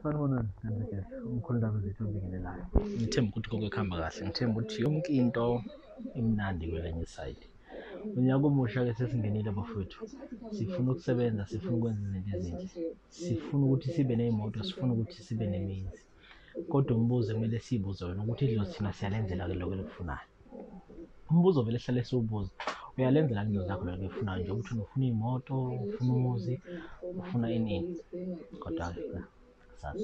Sanibonani Sithembeke, umkhulu ndaba zethu obingelelayo. Ngithemba ukuthi konke kuhamba kahle. Ngithemba ukuthi yonke into imnandi kwelenye isayidi. Unyaka omusha ke sesingenile bafowethu. Sifuna ukusebenza, sifuna ukwenza izinto ezinhle. Sifuna ukuthi sibe nezimoto, sifuna ukuthi sibe nemizi. Kodwa umbuzo kumele sibuze wena ukuthi idlozi thina siyalenzela ke lokho elikufunayo. umbuzo vele sihlale siwubuza uyalenzela into zakho lento oyifunayo nje ukuthi ufuna iy'moto ufuna umuzi ufuna inini kodwa-ke sazi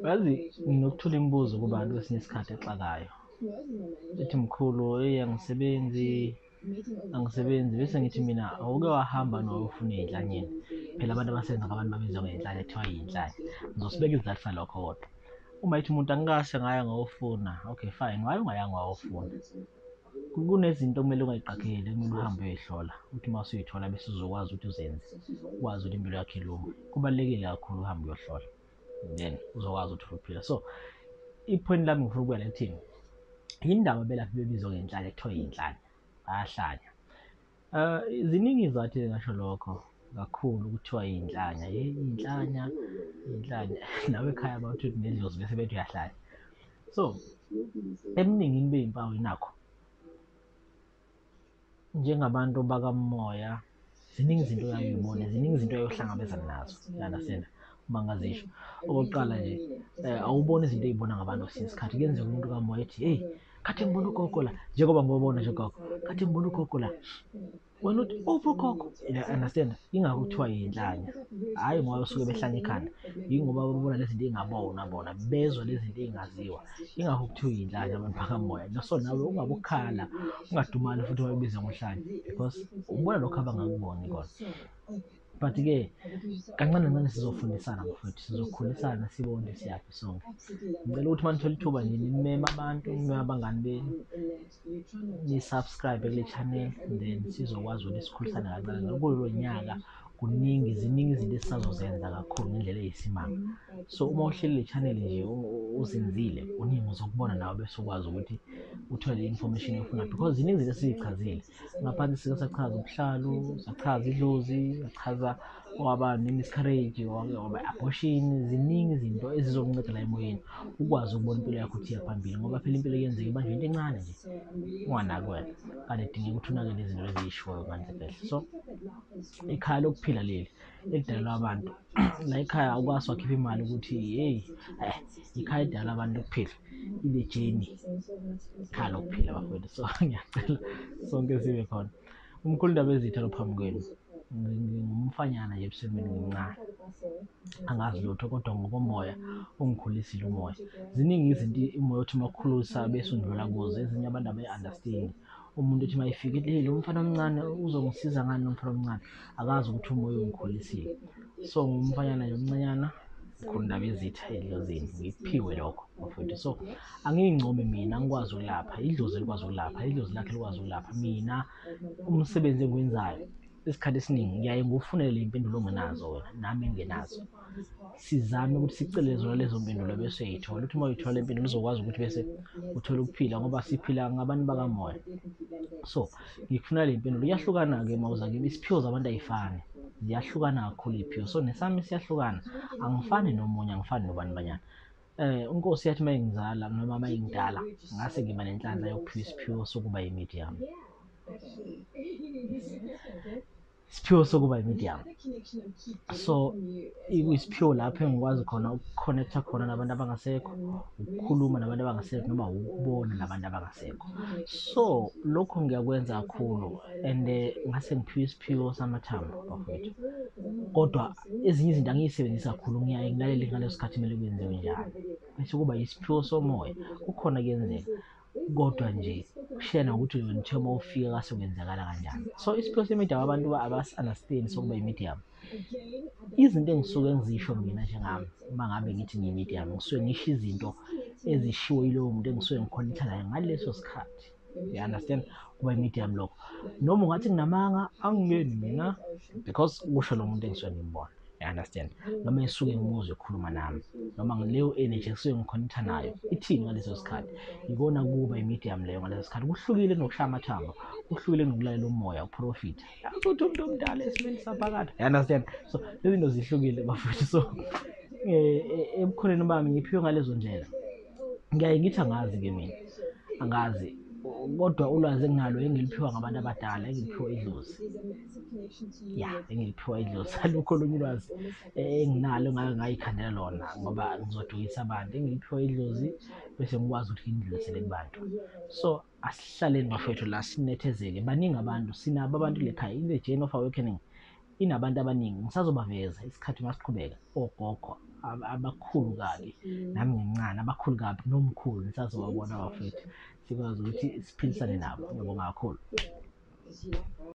yazi nokuthula imibuzo kubantu kwesinye isikhathi exakayo ethi mkhulu eyi angisebenzi angisebenzi bese ngithi mina awuke wahamba nowufuna iy'nhlanyeni phela abantu abasenza ngabantu babizwa ngey'nhlanya kuthiwa yiy'nhlanya ngizosibeka isizathu salokho kodwa uma yithi umuntu angikase ngaya ngawofuna okay fine waye ungayanga wawofuna kunezinto okumele ungayiqapheli kumele uhambe uyoyihlola ukuthi uma usuyithola bese uzokwazi ukuthi uzenze ukwazi ukuthi impilo yakho ilunge kubalulekile kakhulu uhambe uyohlola then uzokwazi ukuthi uphila so iphweni lami ngifuna ukubuyela ekuthini yindaba belaphi bebizwa ngenhlanya kuthiwa yinhlanya bayahlanya um ziningi izathu ezingasho lokho kakhulu kuthiwa yinhlanya yinhlanya yinhlanya nawe ekhaya bawuthi nedlozi bese bethi uyahlanya so eminingini beyimpawu inakho njengabantu bakamoya ziningi izinto yayibone ziningi izinto yayohlangabezana nazo yanasena uma ngazisho okokuqala nje um awuboni izinto eyibona ngabantu kwesinye isikhathi kuyenzeka umuntu kamoya ethi heyi khathi ngibona ugogo la njengoba ngobona nje ugogo khathi ngibona ugogo la wena uthi uphi ugogo understand ingakho kuthiwa yinhlanya hhayi ngoba besuke behlanya ikhanda yingoba babona lezi zinto ey'ngabonwa bona bezwa lezi zinto ey'ngaziwa ingakho kuthiwa iyinhlanya abaphakammoya naso nawe ungabe ukhala ungadumali futhi wabibiza ngomhlanya because ubona lokho abangakuboni kona but-ke kancane kancane sizofundisana mfowethu sizokhulisana sibone ukuthi siyaphi sonke ngicela ukuthi uma nithola ithuba nje nimeme abantu nimeme abangani benu nisubscribe kule channel then sizokwazi ukuthi sikhulisane kancane ngoba kulo nyaka kuningi ziningi izinto esisazozenza kakhulu ngendlela eyisimanga so uma uhleli le channel nje uzinzile kuningi uzokubona nawe bese ukwazi ukuthi uthole i-information efuna because ziningi izinto esizichazile ngaphansi sike sachaza ubuhlalu sachaza idlozi sachaza waba ne-miscarriage wake waba abortion ziningi izinto ezizokunceda la emoyeni ukwazi ukubona impilo yakho ukuthi iyaphambili ngoba phela impilo kuyenzeka ibanje into encane nje unganaki wena kanti edingeka ukuthi unakele izinto eziyishoyo manje kahle so ikhaya lokuphila leli elidalelwa abantu la ikhaya awukwazi wakhipha imali ukuthi heyi eh, ikhaya edalelwa abantu lokuphila ile jeni ikhaya lokuphila bafowethu so ngiyacela sonke sibe khona Umkhulu Ndabezitha lo phambi kwenu ngingumfanyana nje ebusweni ngimncane angazi lutho kodwa ngokomoya ungikhulisile umoya ziningi izinto umoya othi uma ukhulusa bese undlula kuzo ezinye abantu abayi-understand umuntu othi uma efike ethi hey lo mfana omncane uzongisiza ngani lo mfana omncane akazi ukuthi umoya ungikhulisile so ngumfanyana nje omncanyana khona ndaba ezitha edlozini ngikuphiwe lokho bafowethu so angiyincomi mina angikwazi ukulapha idlozi elikwazi ukulapha idlozi lakhe likwazi ukulapha mina umsebenzi engiwenzayo isikhathi esiningi ngiyaye ngufunele impendulo ongenazo wena nami engenazo sizame ukuthi sicele zona lezo mpendulo bese uyayithola ukuthi uma uyithola impendulo uzokwazi ukuthi bese uthole ukuphila ngoba siphila ngabantu bakamoya so ngikufuna le mpendulo iyahlukana-ke mawuza kimi isiphiwo zabantu ayifani ziyahlukana kakhulu iy'phiwo so nesami siyahlukana angifani nomunye angifani nobani banyana Eh uNkosi yathi mayingizala noma mayingidala ngase ngiba nenhlanhla yokuphiwa isiphiwo sokuba yimedium. Isiphiwo sokuba yimedium. So ikuyisiphiwo lapho engikwazi khona ukuconnecta khona nabantu abangasekho, ukukhuluma nabantu abangasekho noma ukubona nabantu abangasekho. So lokho ngiyakwenza kakhulu and eh, ngase ngiphiwa isiphiwo samathambo bafowethu. Kodwa ezinye izinto angiyisebenzisi kakhulu ngiyaye ngilalele ngaleso sikhathi kumele kwenziwe njalo bese kuba yisiphiwo somoya kukhona kuyenzeka kodwa nje kushiya nokuthi loyo nithe uma ufika kase kwenzakala kanjani so isiphiwo semedium abantu abasi-understand sokuba imedium izinto engisuke ngizisho mina njengami uma ngabe ngithi ngiyimedium ngisuke ngisho izinto ezishiwo yilowo muntu engisuke ngikhonitha naye ngaleso sikhathi you understand kuba i-medium lokho noma ungathi nginamanga angiyeni mina because kusho lo muntu engisuke ngimbona you understand noma esuke ngimuzwe ekhuluma nami noma ngileyo energy esuke ngikhonitha nayo ithini ngaleso sikhathi ikona kuba i-medium leyo ngaleso sikhathi kuhlukile kunokushaya amathamba kuhlukile kunokulalela umoya uprofitha yacutha umuntu omdala esimeni saphakade you understand so lezi zinto zihlukile bafethu so um ebukhoneni bami ngiphiwe ngalezo ndlela ngiyaye ngithi angazi ke mina angazi kodwa ulwazi enginalo engiliphiwa ngabantu abadala engiliphiwa idlozi ya engiliphiwa idlozi alukho olunye ulwazi enginalo ngake ngayikhandela lona ngoba ngizodukisa abantu engiliphiwa idlozi bese ngikwazi ukuthi ngindlulisele kubantu so asihlaleni bafethu la sinethezeke baningi abantu sinabo abantu lekhaya in the journey of awakening inabantu abaningi ngisazobaveza isikhathi uma siqhubeka ogogo ab- abakhulu kabi nami ngimncane abakhulu kabi nomkhulu ngisazobabona bafethu sikwazi ukuthi siphilisane nabo ngiyabonga kakhulu